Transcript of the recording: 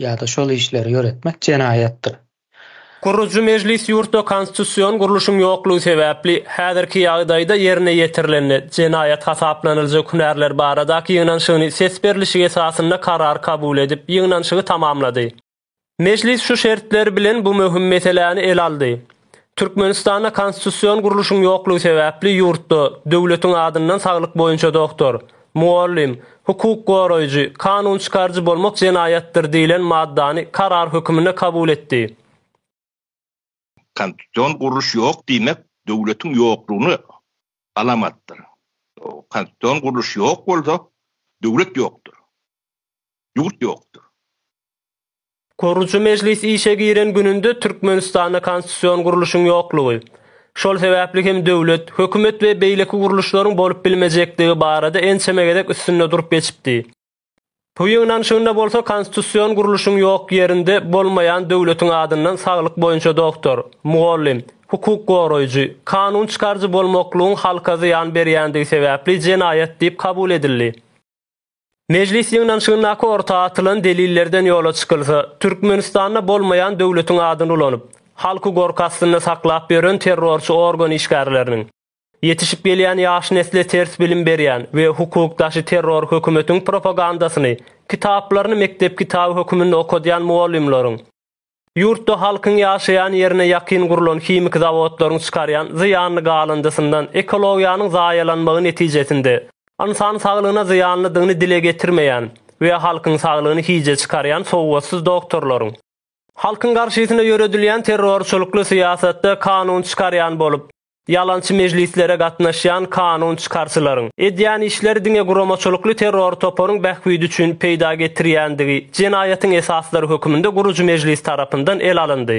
ýa-da şol işleri ýöretmek jenaýatdyr. Gurujy mejlis ýurtda konstitusion gurluşyň ýoklugy sebäpli, häzirki ýagdaýda ýerine ýetirilende, jenaýat hasaplanyljak hünärler baradaky ýygnanyşygyny ses berlişik esasynda karar kabul edip, ýygnanyşygy tamamlady. Mejlis şu şertler bilen bu möhüm meseläni ele aldy. Türkmenistanda konstitusion gurluşyň ýoklugy sebäpli ýurtda döwletiň adyndan saglyk boýunça doktor, mugallym, hukuk goraýjy, kanun çykaryjy bolmak jenaýatdyr diýlen maddany karar höküminde kabul etdi. Konstitusion gurluş ýok diýmek döwletiň ýoklugyna alamatdyr. Konstitusion gurluş ýok bolsa, döwlet ýokdur. Ýurt ýokdur. Gurujy mejlis işe giren gününde Türkmenistanda konstitusion gurluşyň ýoklugy, şol sebäpli hem döwlet, hökümet we beýleki gurluşlaryň bolup bilmejekdigi barada ençeme gezek üstünde durup geçipdi. Bu ýygnanyşygynda bolsa konstitusion gurluşyň ýok ýerinde bolmaýan döwletiň adyndan saglyk boýunça doktor, mugallym, hukuk goraýjy, kanun çykaryjy bolmaklygyň halka zyýan berýändigi sebäpli jenaýat diýip kabul edildi. Mejlis ýygnanyşygyndaky orta atylan delillerden ýola çykylsa, Türkmenistanda bolmaýan döwletiň adyny ulanyp, halky gorky astynda saklap ýören terrorçy organ işgärleriniň, ýetişip gelýän ýaş nesle ters bilim berýän we hukuk daşy terror hökümetiň propagandasyny, kitaplaryny mekdep kitaby höküminde okadýan mugallymlaryň, Ýurtda halkyň ýaşaýan ýerine ýakyn gurlan himiki zawodlaryň çykarýan zyýanly galyndysyndan ekologiýanyň zaýalanmagy netijesinde ynsan saglygyna zyýanlydygyny dile getirmeýän we halkyň saglygyny hije çykarýan sowgatsyz doktorlaryň, halkyň garşysyna ýöredilýän terrorçylykly syýasatda kanun çykarýan bolup, Ýalançy mejlislere gatnaşýan kanun çykarçylaryň, edýän işleri diňe guramaçylykly terror toparyň bähbidi üçin peýda getirýändigi, jenaýatyň esaslary höküminde gurujy mejlis tarapyndan el alyndy.